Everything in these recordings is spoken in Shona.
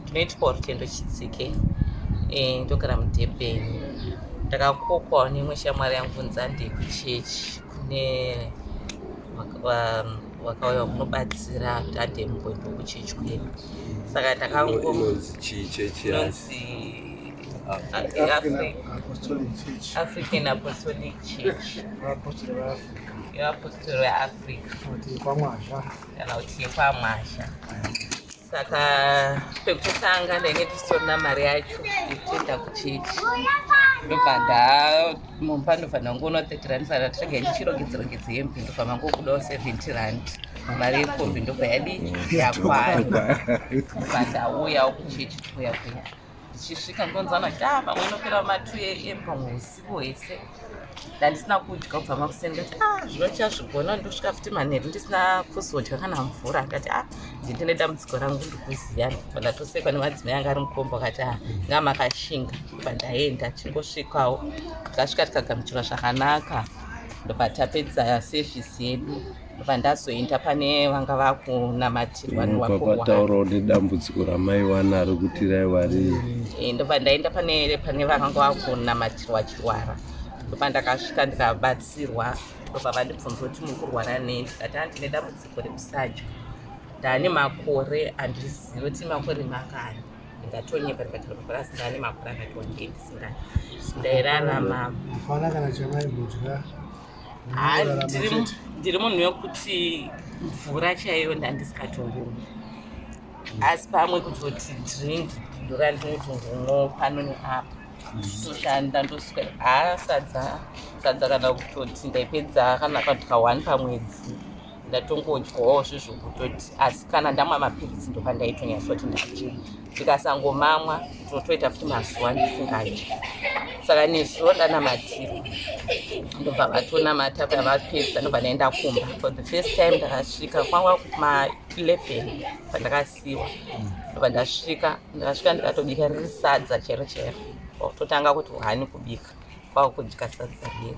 tinoiti parutendo chitsike eh, ndogara mudurban ndakakokwawo neimwe shamwari yangu nzande kuchechi kune vakauya kunobatsira tande mumboindo kuchechi kwedu saka ndakangononzi african apostolic church yevapostori veafrica kwamwazha kana kuti yekwamwazha saka pekutanga ndainge ndisitorina mari yacho yekutoenda kuchechi ndobva ndamumba ndofanira kungoona thirty rand saka ndinenge ndichirongedzerongedze hembe ndofamba ngokudawo seventy rand mari yekombi ndobva yadi yakwana ndobva ndauyawo kuchechi kuya kuya ndichisvika ndonzwa kuti ah pamwe inopera ma 2 am pamwe usiku hwese ndandisina kudya kubva makuseni ndati ah zvino chazvigona ndosvika futi manheru ndisina kuzodya kana mvura ndati ah ndine dambudziko rangu ndikuziva pandatosekwa nemadzimai anga ari mukombo akati ah nga makashinga pandaenda chingosvikawo tikasvika tikagamuchirwa zvakanaka ndopatapedza sevhisi yedu ndakabva ndazoenda pane vanga vakunamatirwa newapataurawo nedambudziko ramai wanaro kuti raiwa rei eh, ndobva ndaenda pane pane vanga vakunamatirwa chirwara ndobva ndakasvika ndikabatsirwa ndobva vandibvunza kuti muri kurwara nei ndikati andine dambudziko rekusadya ndane makore andizivi kuti makore makani ndatonyepa ndikati ndopapurasi ndane makore akati wandei ndisingai ndairarama hapana kana chamaimudya ndiri munhu wekuti mvura chaiyo ndandisikatongomi asi pamwe kutoti drink ndora ndinotongomo pano neapa nditoshanda ndosvika haa sadza sadza kana kutoti ndaipedza kana paduka one pamwedzi ndatongodyawo zve zvokutoti asi kana ndamwa mapiritsi ndopandaitonyasoti ndadya ndikasangomamwa ndotoita futi mazuva ndisingadyi saka nezuro ndanamatira ndobva vatonamata paya vapedza ndobva ndaenda kumba for the first time ndakasvika kwanga kuma 11 pandakasiwa ndobva ndasvika ndakasvika ndikatobika riri sadza chero chero kwakutotanga kuti hani kubika kwakudya sadza riri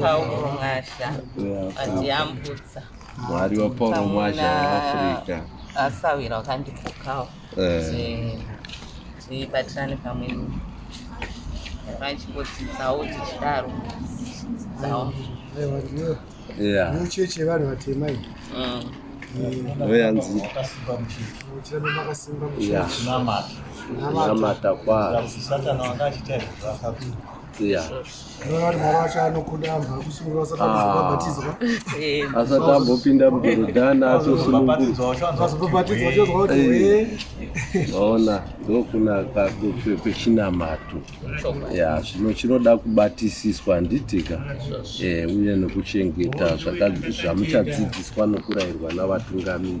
Pauro Mwasha atiyambutsa mwari wapauro mwasha weafrica asawira wakandipokawo eh. tibatirane pamwe vachimbodzidzawo tichidaro tichidzidzawo muchechi yevanhu vatema iyi mm. ndoyanzi namata kwazvo asati ambopinda mudorodhani atosununguaona ndokunaka kwechinamato ya zvino chinoda kubatisiswa handitika eh, uye nekuchengeta zvamuchadzidziswa nokurayirwa navatungamiri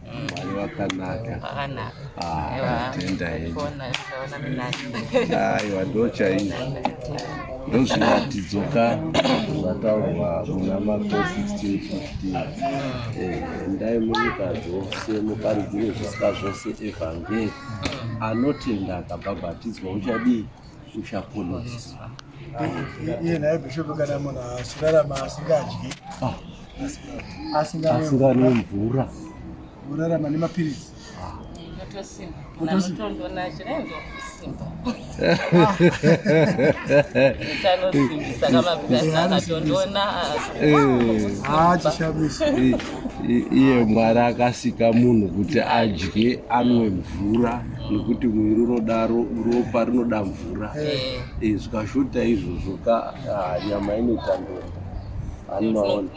Mwari wakanaka. Wakanaka. Ah, Ewa. tenda hedu. Kuona zvaona minani. Aiwa ndochaizvo. Ndozviratidzo ka zvataurwa muna Marko 16:15. Eh, endai munyika dzose muparidzire zvisikwa zvose evhangeri. Anotenda akabhabhatidzwa uchadii? uchaponeswa iye naye bhishopu kana munhu asirarama asingadyi ah. asinganwe mvura urarama nemapiritsi iye mwari akasika munhu kuti adye anwe mvura nokuti muviri unodaro ropa rinoda mvura e, zvikashota izvozvo ka ah, nyama inotandora anomaona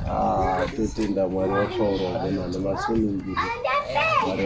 ah, totenda mwari wakaurwa gona nemasunungiri mwari